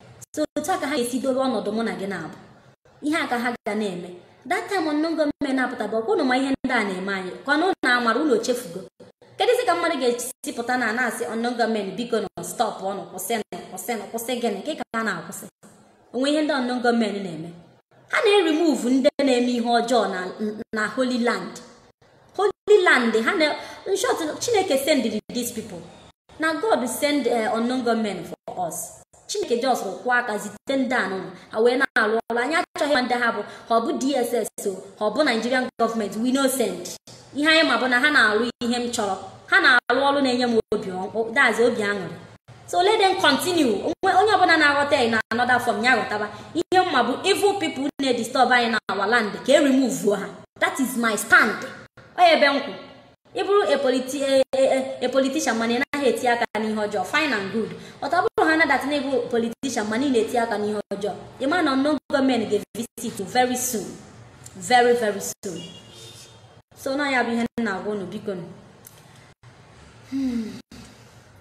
so otu a ka ha ga-esi dobe ọnọdụ mụ na gị na-abụ ihe a ka ha ga na-eme that time unknown gunmen na-apụta bụ ọkwa ụnụ ma ihe ndị a na-eme anyị ka ọnụ na amara ụnụ echefugo kedụzi ka mmadụ ga-esi pụta na na-asị unknown gunmen bikonụ stọpụnụ kwụsịnụ kwụsịnụ kwụsị gịnị nke ka ha na-akwụsị o nwe ihe ndị unknown gunmen na-eme ha na-erimuvu ndị na-eme ihe ọjọọ na na holy land holy land ana nsọ chineke sendiri these people na god send eh, unknown gunmen for us chineke just kwọọ aka zite ndị a ụmụ a wee na-alụ ọrụ anyị achọghị ma ndị ha bụ ha ọ bụ dss o ha ọ bụ nigerian gọọmenti we no send ihe anyị ma bụ na ha na-alụ ihe m chọrọ ha na-alụ ọrụ na-enye m obi ọ- that's obi aṅụrị so let them continue onye ọbụla na-aghọta ya na another form ya ghọtaba ihe m ma bụ evil people na-edisturb anyị na our land ka e remove ha that is my stand ọ nya bụ ebe m kwụ ị bụrụ a politi- a- a- a politician mana ị naghị eti aka n'ihe ọjọọ fine and good but ọ bụrụ haa dat na ị bụ politician mana ị na-eti aka n'ihe ọjọọ ị ma na unknown gunmen ga-evisit you very soon very very soon so na ya bụ ihe m na-agwa unu bikonụ.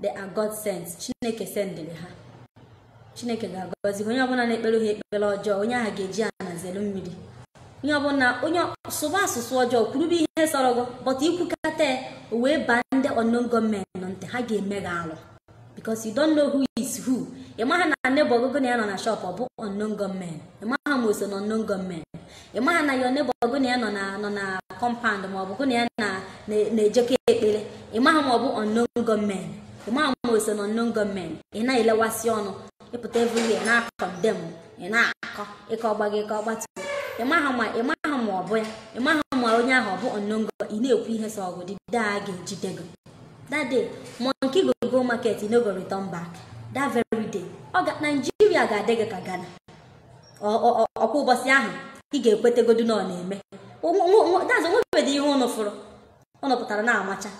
they are God sent chineke sendịrị ha chineke ga-agọzi onye ọbụla na-ekpere ha ekpere ọjọọ onye ahụ ga-eji ana zere mmiri onye ọbụla onye sụba asụsụ ọjọọ kwurube ihe sọrọ gị but i kwukata ya o wee baa ndị unknown gunmen na ntị ha ga-eme gị alụ because you don't know who is who ị maghị na neighbor gụ gụ na ya nọ na shop bụ unknown gunmen ị maghị ma o so na unknown gunmen ị maha na your neighbor gụ na ya nọ na nọ na kọmpand ma ọ bụ gụ na ya na na- na-ejekọ ekpere ị maha ma ọ bụ unknown gunmen ị maha ma o so na unknown gunmen ị na-elewasị ọnụ ị pụta everywhere na-akọndem ị na-akọ ị kọọ gbago ị kọọ gbatu ị maha ma ị maha ma ọ bụ ya ị maha ma onye ahụ ọ bụ unknown gunmen ị na-ekwu ihe sọọ gụ the day a ga-ejide gị that day monkey go go market e no go return back that very day ọga naijiria ga-adị gị ka ghana ọkwa ụbọchị ahụ ị ga-ekwetegodu na ọ na-eme that's o nwebedị ihe ụnụ fụrụ ụnụ pụtara na-amacha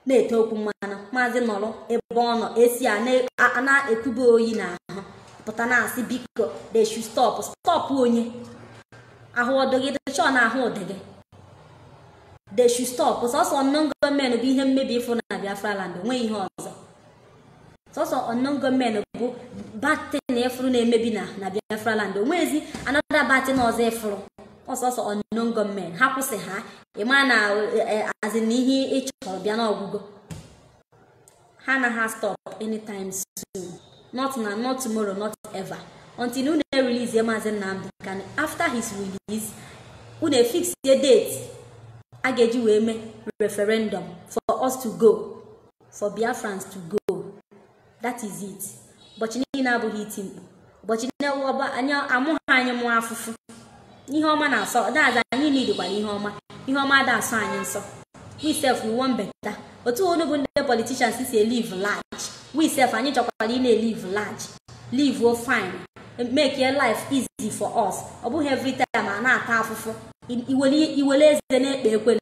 na-ete okwu mmanụ maazị nọrọ ebe ọ nọ esi a na-ekube oyi n'ahụ pụta na-asị biko they should stop stop onye ahụ ụdị gị dịchọ na ahụ ụdị gị they should stop sọsọ unknown gunmen bụ ihe mmebi ị fụ na Biafra land o nweghị ihe ọzọ sọsọ unknown gunmen bụ bad thing ị fụrụ na-emebi na na biafra land o nwezi another bad thing ọzọ ị fụrụ sọsọ unknown gunmen ha kwụsị ha ịma na as in ihe ị chọrọ bịa n'ọgwụgwụ ha anaghị stop anytime soon not na not tomorrow not ever until unu erelease maazị nnamdị kanu after his release unu efixie date a ga-eji wee mee referendum for us to go for biafrans to go that is it ụbọchị niile abụghị iti mkpu ụbọchị niile ọba anyị amụghị anyị mụọ afụfụ ihe ọma na-asọ daza anyị needkwara ihe ọma ihe ọma ada asọ anyị nsọ we sef we wan better otu unu bụ ndị politicians si elive large we sef anyị chọkwara ịna-elive large live o fine make your life easy for us ọ bụghị every time a na-ata afụfụ iwele eze na-ekpe ekwele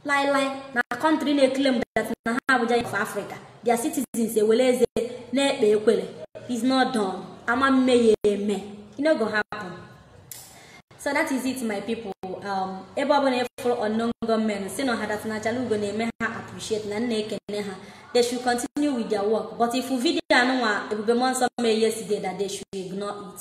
lai lai na country na-eclaim that na ha bụ giant of africa their citizens ewere eze na-ekpe ekwere is not done ama mme ya eme it no go happen so that is it my people um, ebe ọbụla ị fụrụ unknown gunmen sị nụ ha that na achalugo na-eme ha appreciate na m na-ekene ha they should continue with their work but if video anụnwa ebube mmụọ nsọ mee yesterday that they should ignore it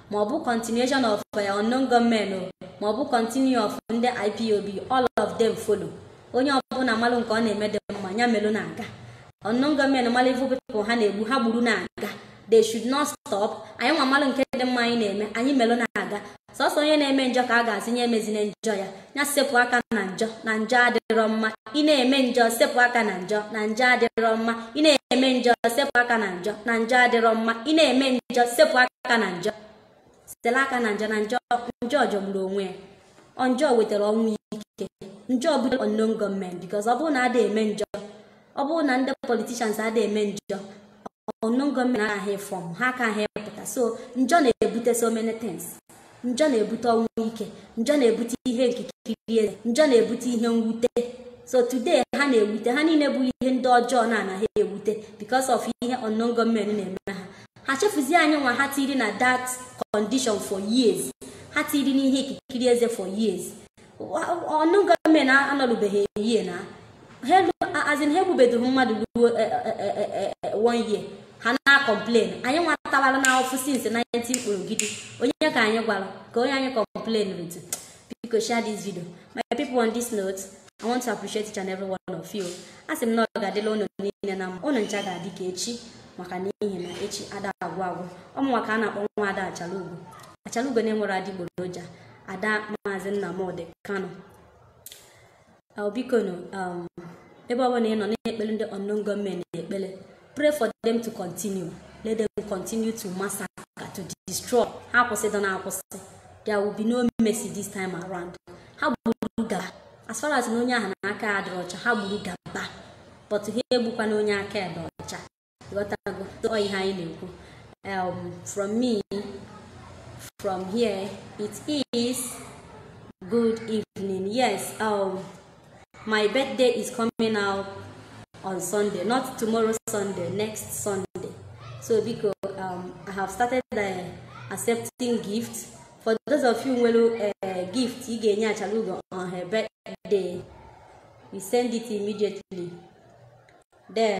ma ọ bụ continuation of eh, unknown gunmen o ma ọ bụ continue of ndị ipob all of them follow onye ọbụla malụ nke ọ na-eme dị mma ya melụ na-aga unknown gunmen malụ evil people ha na-egbu ha gburu na-aga they should not stop anyị nwa malụ nke dị mma anyị na-eme anyị melụ na-aga sọsọ onye na-eme njọ ka a ga-asị nye emezine njọ ya ya sepụ aka na njọ na njọ adịrọ mma ị na-eme njọ sepụ aka na njọ na njọ adịrọ mma ị na-eme njọ sepụ aka na njọ na njọ adịrọ mma ị na-eme njọ sepụ aka na njọ sela aka na njọ na njọ njọ jọgburu onwe ya ọ njọ wetara ọnwụ ike njọ bute unknown gunmen because ọ bụrụ na ada eme njọ ọ bụrụ na ndị politicians ada eme njọ unknown gunmen anaghị form ha ka ha pụta so njọ na-ebute so many things njọ na-ebute ọnwụ ike njọ na-ebute ihe nkikiri eze njọ na-ebute ihe mwute so today ha na-ewute ha niile bụ ihe ndị ọjọọ na-anaghị ewute because of ihe unknown gunmen na-eme ha ha chefuzie anyị nwa ha tiri na that condition for years ha tiri n'ihe nkikiri eze for years unknown gunmen anọlụbeghị a year na as in ha egbubedo mmadụ ruo one year ha na-acomplain anyị nwa tawara afụfụ since 19 kpụrụ gidi onye ka anyị gwara ka onye anyị complainrụ to biko share this video my people on this note i want to appreciate each and every one of you a sị m na ọ ga-adịlị ụnụ niile na mma ụnụ ncha ga-adị ka echi maka na n'ihi na echi ada agwụ agwụ ọ mụnwa ka a na-akpọ nwa ada achalugo achalugo na-enwere adịgboroja ada maazị nnamdị kanu bikonu um, ebe ọbụla ị nọ na-ekpere ndị unknown government ekpere pray for them to continue let them continue to massacre to destroy ha akwụsịdịna akwụsị there will be no mercy this time around ha gburu gaba as far as na onye ahụ na aka adịrọ ọcha ha gburu gaba but ha egbukwana onye aka ya dị ọcha ghọtago tụọ ihe anyị na-ekwu um, from me from here it is good evening yes um, my birthday is coming out on sunday not tomorrow sunday next sunday so biko um, i have started uh, accepting gifts for those of you nwere uh, gift ị ga-enye achalugo on her birthday you send it immediately then